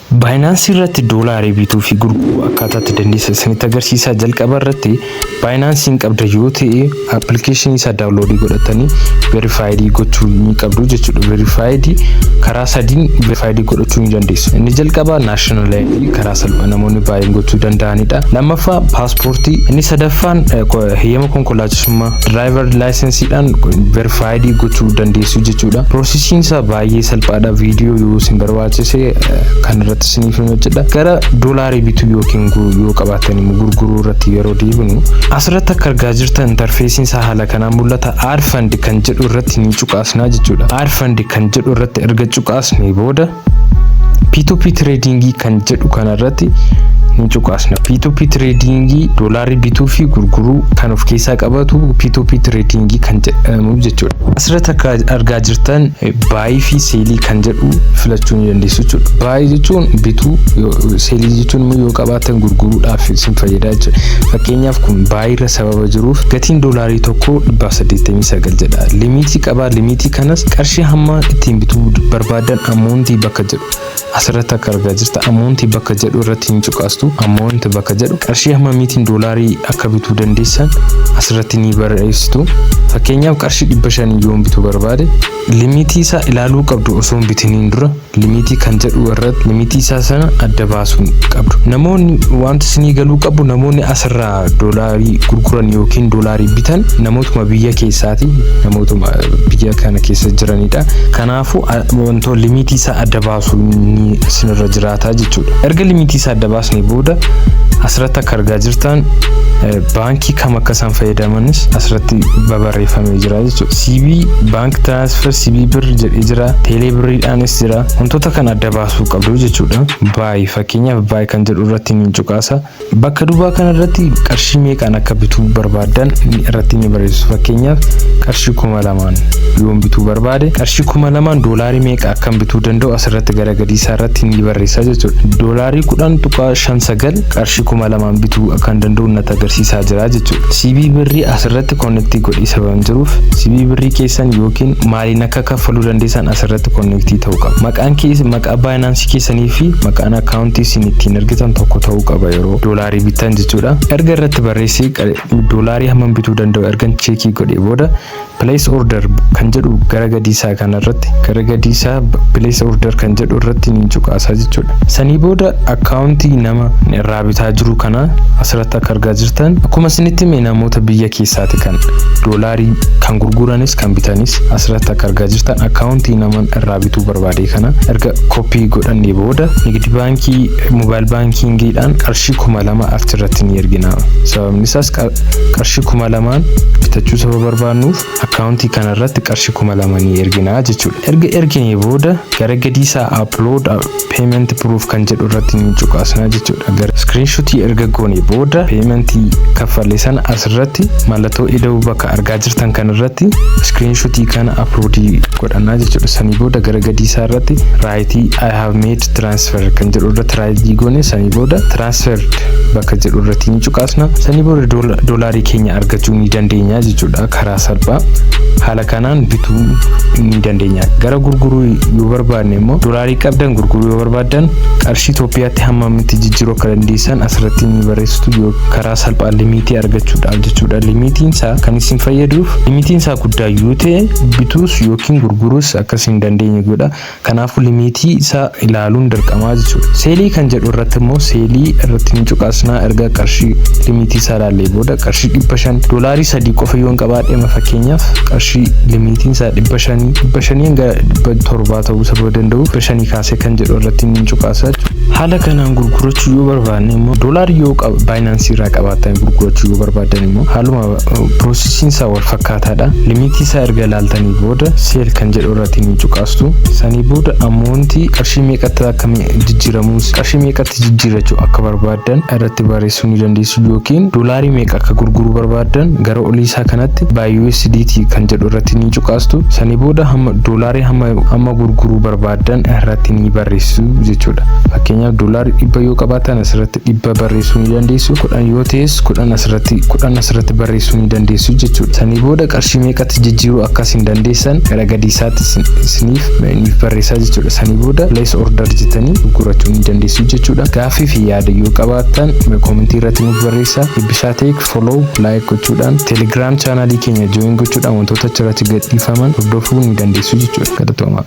Baayinaansii irratti doolaari bituu fi gurguruu akkaataa itti dandeessan isinitti agarsiisaa jalqaba irratti baayinaansiin qabda yoo ta'e appilikeeshinii isaa daawunloodii godhatanii verifaayidii gochuu ni qabdu jechuudha verifaayidii karaa sadiin verifaayidii godhachuu ni dandeessu inni jalqaba naashinaal aayidii karaa salphaa namoonni baay'een gochuu danda'anidha lammaffaa paaspoortii inni sadaffaan heyyama konkolaachisummaa diraayivar laayisensiidhaan verifaayidii gochuu dandeessu jechuudha piroosisiin isaa baay'ee salphaadha viidiyoo yoo isin barbaadu taasisee kan irratti isiniif hin hojjedha. Gara doolaarii bituu yookiin yoo qabaattan immoo gurguruu irratti yeroo deebinu asirratti akka argaa jirtan intarfeesiin isaa haala kanaan mul'ata aad fund kan jedhu irratti ni cuqaasnaa jechuudha. Aad fund kan jedhu irratti erga cuqaasnee booda P2P tradingii kan jedhu kana irratti ni cuqaasna. P2P tradingii doolaarii bituu fi gurguruu kan of keessaa qabatu P2P tradingii kan jedhamu jechuudha. Asirratti akka argaa jirtan Baayii fi seelii kan jedhu filachuu ni dandeessu jechuudha. Baayii jechuun bituu, seelii jechuun immoo yoo qabaatan gurguruudhaaf isin fayyada jechuudha. Fakkeenyaaf kun baayiirra sababa jiruuf gatiin doolaarii tokko dhibbaaf saddeettamii sagal jedha. Limiitii qabaa, limiitii kanas qarshii hamma ittiin bituu barbaadan ammoontii bakka jedhu. Asirratti akka argaa jirta amount bakka jedhu irratti hin cuqaastu amount bakka jedhu qarshii hammamiitiin doolaarii akka bituu dandeessan asirratti ni barreessitu fakkeenyaaf qarshii dhibba shanii yoon bituu barbaade limiitii isaa ilaaluu qabdu osoo hin bitiniin dura limiitii kan jedhu irratti limiitii isaa sana adda baasuu qabdu namoonni wanti isinii galuu qabu namoonni asirraa doolaarii gurguran yookiin doolaarii bitan namootuma biyya keessaati namootuma biyya kana keessa jiranidha kanaaf wantoota limitii isaa adda baasu inni isinirra jiraata jechuudha. Erga limitii isaa adda baasnee booda asirratti akka argaa jirtan baankii kam akka isaan fayyadamanis asirratti babarreeffamee jira jechuudha. CB baank transfer CB birr jedhee jira. Teelee birriidhaanis jira. Wantoota kana adda baasuu qabdu jechuudha. Baay fakkeenyaaf baay kan jedhu irratti ni cuqaasa. Bakka dubaa kana irratti qarshii meeqaan akka bituu barbaaddan irratti ni barreessu. Fakkeenyaaf qarshii kuma lamaan yoon bituu barbaade qarshii kuma lamaan doolaarii meeqa akkan bituu danda'u asirratti gara gadii isaa irratti ni barreessaa jechuudha. Doolaarii kudhan tuqaa shan sagal qarshii kuma lamaan bituu akkan danda'u natti agarsiisaa jira jechuudha. Sibii birrii asirratti konneektii godhee sababan jiruuf sibii birrii keessan yookiin maaliin akka kaffaluu dandeessan asirratti konneektii ta'uu qaba. Maqaan keessa Maqaa Binance keessanii fi maqaan account isin ittiin ergitan tokko ta'uu qaba yeroo doolaarii bittan jechuudha. Erga irratti barreessee doolaarii hammam bituu danda'u ergan cheekii godhee booda place order kan jedhu gara gadii isaa kana irratti gara gadii isaa place order kan jedhu irratti ni cuqaasaa jechuudha. Sanii booda account nama irraa bitaa jiru kana asirratti akka argaa jirtan akkuma isinitti hime namoota biyya keessaati kan doolaarii kan gurguranis kan bitanis asirratti akka argaa jirtan account nama irraa irraa bituu barbaade kana erga koppii godhannee booda nigdi baankii mobaayil baankiingiidhaan qarshii kuma lama achirratti ni ergina sababni isaas qarshii kuma lamaan bitachuu saba barbaannuuf akkaawuntii kanarratti qarshii kuma lama ni ergina jechuudha erga erginee booda gara gadii isaa upload payment proof kan jedhu irratti ni cuqaasna jechuudha. Gara screenshot erga goone booda payment kaffalle sana asirratti mallattoo ida'uu bakka argaa jirtan kan irratti screenshot kana upload godhanna jechuudha. Sanii booda gara gadii isaa irratti right I have made transfer kan jedhu irratti right goone sanii booda transferred bakka jedhu irratti ni cuqaasna. Sanii booda doolaarii keenya argachuu ni dandeenya jechuudha karaa salphaa. Haala kanaan bituu ni dandeenya. Gara gurguruu yoo barbaadne immoo Qaalii qabdan gurguruu yoo barbaaddan qarshii Itoophiyaatti hammamitti jijjiiruu akka dandeessan asirratti ni barreessitu yoo karaa salphaan limiitii argachuudhaaf jechuudha. Limiitiin isaa kan isin fayyaduuf limiitiin isaa guddaa yoo ta'e bituus yookiin gurguruus akka isin dandeenye godha. Kanaafuu limiitii isaa ilaaluun dirqamaa jechuudha. Seelii kan jedhu irratti immoo seelii irratti ni cuqaasnaa erga qarshii limiitii isaa ilaallee booda qarshii dhibba shan doolaarii sadii qofa yoon qabaadhe fakkeenyaaf qarshii limiitiin isaa dhibba shanii dhibba shanii hanga dhibba torbaa ta'uu sababa danda'uuf kudha shanii kaasee kan jedhu irratti ni cuqaasa. Haala kanaan gurgurachuu yoo barbaadne immoo doolaar yoo baayinaansii irraa qabaatan gurgurachuu yoo barbaadan immoo haaluma piroosesiin isaa wal fakkaataadha. Limiitii isaa erga ilaaltanii booda seel kan jedhu irratti ni cuqaastu. Sanii booda ammoontii qarshii meeqatti akka jijjiiramuus qarshii meeqatti jijjiirachuu akka barbaadan irratti barreessuu ni dandeessu yookiin doolaarii meeqa akka gurguruu barbaadan gara olii isaa kanatti baay USDT kan jedhu irratti ni cuqaastu. Sanii booda hamma doolaar hamma amma gurguruu barbaaddan irratti ni barreessu jechuudha. Fakkeenyaaf doolaarri dhibba yoo qabaatan asirratti dhibba barreessuu ni dandeessu. Kudhan yoo ta'es kudhan asirratti kudhan asirratti barreessuu ni dandeessu jechuudha. Sanii booda qarshii meeqatti jijjiiruu akkas hin dandeessan gara gadii isaatti isin- isiniif niif barreessaa jechuudha. Sanii booda place order jettanii gurgurachuu ni dandeessu jechuudha. Gaaffii fi yaada yoo qabaattan komentii irratti nuuf barreessaa. Eebbisaa Teek follow, like gochuudhaan telegram channel keenya join gochuudhaan wantoota achirratti gadhiifaman hordofuu ni dandeessu jechuudha. Galatoomaa.